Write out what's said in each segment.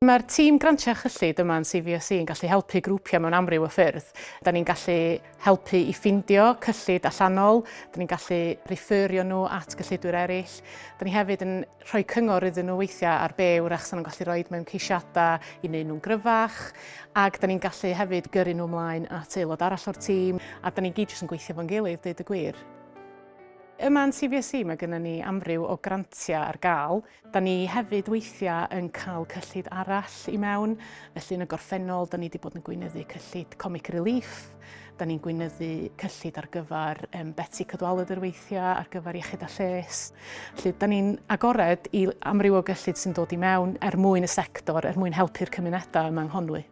Mae'r tîm Grantiau Cyllid yma yn CVSE yn gallu helpu grwpiau mewn amryw o ffyrdd. Da ni'n gallu helpu i ffindio cyllid allanol, da ni'n gallu referio nhw at gyllidwyr eraill, da ni hefyd yn rhoi cyngor iddyn nhw weithiau ar be wrach sy'n nhw'n gallu rhoi mewn ceisiadau i wneud nhw'n gryfach, ac da ni'n gallu hefyd gyrru nhw ymlaen at aelod arall o'r tîm, a da ni gyd jyst yn gweithio fo'n gilydd, deud y gwir. Yma yn CVSE mae gennym ni amryw o grantiau ar gael. Cymraeg. Da ni hefyd weithiau yn cael cyllid arall i mewn, felly yn y gorffennol da ni wedi bod yn gweinyddu cyllid Comic Relief, da ni'n gweinyddu cyllid ar gyfer um, Betsi Cadwaladr weithiau, ar gyfer Iechyd a Lles. Felly da ni'n agored i amryw o gyllid sy'n dod i mewn er mwyn y sector, er mwyn helpu'r cymunedau yma yng Nghonwy.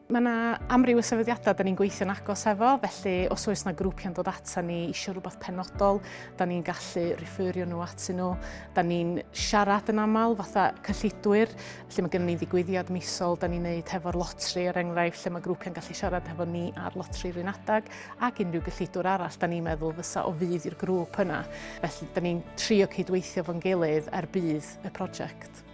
Mae yna amryw o sefydliadau da ni'n gweithio'n agos efo, felly os oes yna grwpiau'n dod ata ni eisiau rhywbeth penodol, da ni'n gallu referio nhw at nhw. Da ni'n siarad yn aml fatha cyllidwyr, lle mae gennym ni ddigwyddiad misol, da ni'n neud hefo'r lotri er enghraifft, lle mae grwpiau'n gallu siarad hefo ni ar lotri rhywun adag, ac unrhyw gyllidwr arall da ni'n meddwl fysa o fydd i'r grŵp yna. Felly da ni'n trio cydweithio fo'n gilydd er bydd y prosiect.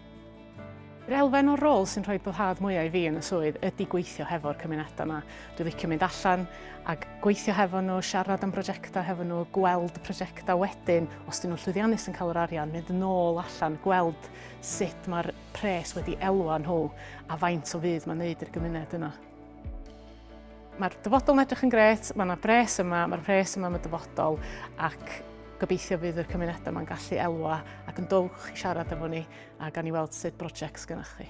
Yr elfen o'r rôl sy'n rhoi boddhad mwyaf i fi yn y swydd ydy gweithio hefo'r cymunedau yma. Dwi'n licio mynd allan a gweithio hefo nhw, siarad am brosiectau hefo nhw, gweld prosiectau wedyn, os dyn nhw'n llwyddiannus yn cael yr arian, mynd yn ôl allan, gweld sut mae'r pres wedi elwa nhw a faint o fudd mae'n neud i'r gymuned yna. Mae'r dyfodol yn edrych yn gret, mae yna bres yma, mae'r pres yma am y dyfodol ac gobeithio bydd y cymunedau yma'n gallu elwa ac yn dowch i siarad efo ni a gan i weld sut brosiect gynnwch chi.